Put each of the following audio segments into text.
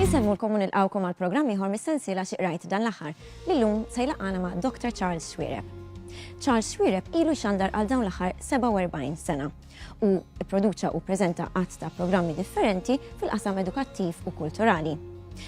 Insemmulkom u nilqawkom għal programm ieħor mis-sensiela xi qrajt dan l-aħħar li llum se jlaqgħana ma' Dr. Charles Xwiereb. Charles Xwiereb ilu xandar għal dawn l-aħħar 47 sena u pproduċa u ppreżenta għadd ta' programmi differenti fil-qasam edukattiv u kulturali.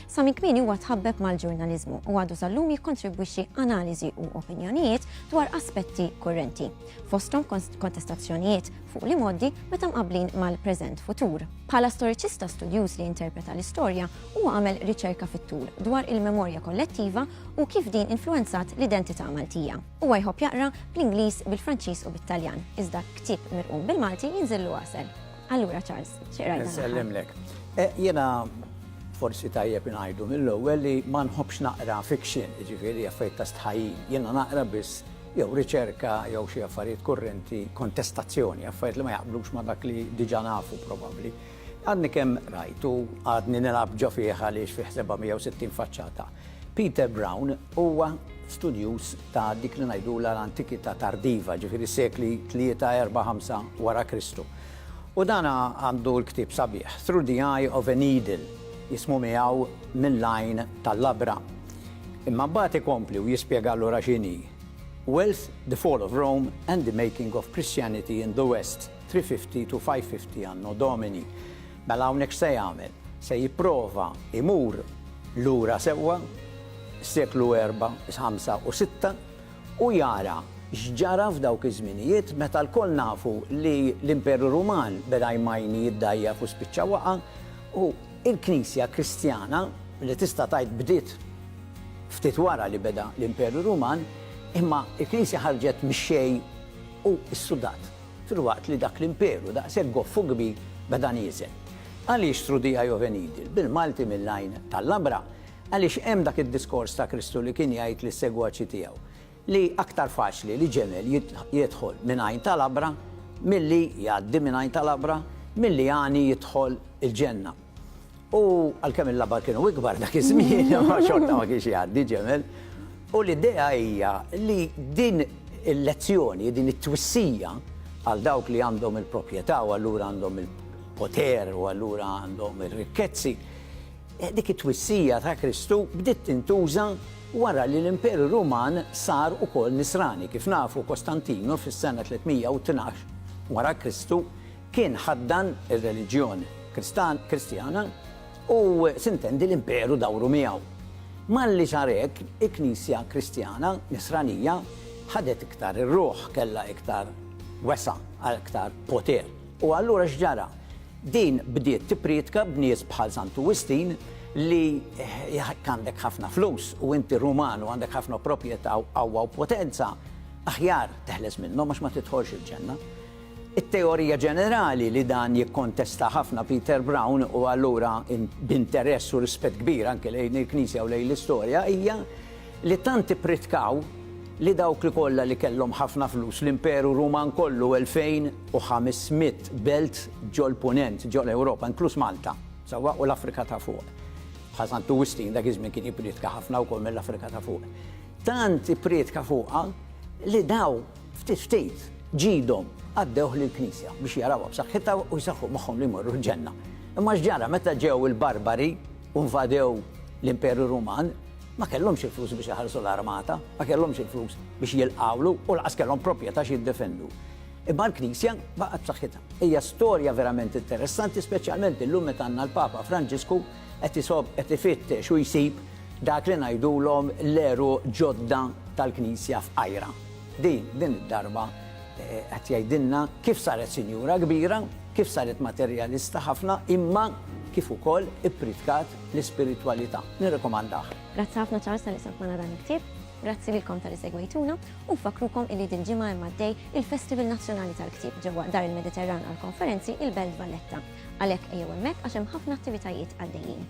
Sa minn kmieni huwa tħabbeb mal-ġurnaliżmu u għadu sal-lum jikkontribwixxi analiżi u opinjonijiet dwar aspetti kurrenti, fosthom kontestazzjonijiet fuq li moddi meta mqablin mal-preżent futur. Bħala storiċista studjuż li interpreta l-istorja, huwa għamel riċerka fit-tul dwar il-memorja kollettiva u kif din influenzat l-identità Maltija. Huwa jħobb jaqra bl-Ingliż, bil-Franċiż u bit-Taljan, iżda ktieb mirqum bil-Malti jinżillu għasel. Allura Charles, xi qrajt dan Nsellimlek. Jiena forsi tajjeb ingħidu mill-ewwel li ma nħobbx naqra fiction, jiġifieri affarijiet ta' stħajjin. Jiena naqra biss jew riċerka jew xi affarijiet kurrenti, kontestazzjoni, affarijiet li ma jaqblux ma' dak li diġà nafu probabbli. Għadni kemm rajt u għadni nilgħab ġo fih għaliex fih 760 faċċata. Peter Brown huwa studjuż ta' dik li ngħidulha l-Antikità Tardiva, ġifieri s-sekli tlieta, erbgħa, ħamsa wara Kristu. U dan għandu l-ktieb sabiħ, Through the Eye of a Needle, jismu miegħu Mill-Għajn tal-Labra. Imma mbagħad ikompli u jispjega allura x'inhi Wealth, the Fall of Rome and the Making of Christianity in the West. 350 to 550 Anno Domini. Mela hawnhekk x'se jagħmel? Se jipprova jmur lura sewwa s-seklu erba', ħamsa u sitta u jara x'ġara f'dawk iż-żminijiet meta lkoll nafu li l-Imperu Ruman beda jmajni, jiddgħajjaf u spiċċa waqa' u l-Knisja Kristjana li tista' tgħid bdiet ftit wara li beda l-Imperu Ruman imma l-Knisja ħarġet mix-xejn u ssudat. filwaqt li dak l-imperu, daqshekk goff u kbir, beda nieżel. Għaliex through the eye of a needle, bil-Malti mill-għajn tal-labra? Għaliex hemm dak id-diskors ta' Kristu li kien jgħid lis-segwaċi tiegħu li aktar faċli li ġemel jidħol minn għajn ta' labra milli jgħaddi minn għajn ta' labra milli għani jidħol il-ġenna. U għalkemm il-labar kienu ikbar dak iż-żmien, imma xorta ma kienx jgħaddi ġemel. U l-idea hija li din il-lezzjoni, din it-twissija għal dawk li għandhom il-proprjetà u allura għandhom il-poter u allura għandhom ir-rikkezzi, dik it-twissija ta' Kristu bdiet tintuża wara li l-Imperu Ruman sar ukoll nisrani. Kif nafu, Kostantinu fis-sena 312 wara Kristu, Kien ħaddan ir-reliġjon Kristjana u sintendi l-Imperu dawru miegħu. Malli sar hekk, il-Knisja Kristjana Nisranija ħadet iktar ir-ruħ, kellha iktar wesgħa, aktar poter. U allura x'ġara? Din bdiet tipprietka b'nies bħal Santu Wistin li jekk għandek ħafna flus u inti Ruman u għandek ħafna proprjetà u qawwa u potenza, aħjar teħles minnhom għax ma tidħolx il-Ġenna. It-teorija ġenerali li dan jikkontesta ħafna Peter Brown, u allura b'interess u rispett kbir anke lejn il-Knisja u lejn l-istorja, hija li tant ippritkaw li dawk li kollha li kellhom ħafna flus, l-Imperu Ruman kollu 2,500 belt ġol-Punent, ġol-Ewropa, inkluż Malta, sewwa, u l-Afrika ta' Fuq. Bħal Sant Wistin dak iż-żmien kien jippriedka ħafna wkoll mill-Afrika ta' Fuq. Tant ippriedka fuqha li daw Ftit ftit, ġidhom għaddewh lill-Knisja biex jarawha b'saħħitha u jsaħħu moħħhom li jmorru l-ġenna. Imma x'ġara meta ġew il-barbari u nvadew l-Imperu Ruman? Ma kellhomx il-flus biex iħallsu l-armata, ma kellhomx il-flus biex jilqgħulu u lanqas kellhom propjetà x'jiddefendu. Imma l-Knisja baqgħet b'saħħitha. Hija storja verament interessanti, speċjalment illum meta għandna l-Papa Franġisku qed isobb, qed ifittex u jsib dak li ngħidulhom l-għeruq ġodda tal-Knisja f'qajra. Di, din id-darba, qed jgħidilna kif saret sinjura kbira, kif saret materjalista ħafna, imma kif ukoll ippritkat l-ispiritwalità. Nirrekomandah. Grazzi ħafna Charles talli qsamt magħna dan il-ktieb. Grazzi lilkom talli segwejtuna u nfakkrukom illi dil-ġimgħa hemm għaddej il-Festival Nazzjonali tal-Ktieb ġewwa Dar il-Mediterran għall-Konferenzi, il-Belt Valletta. Għalhekk ejjew hemmhekk għax hemm ħafna attivitajiet għaddejjin.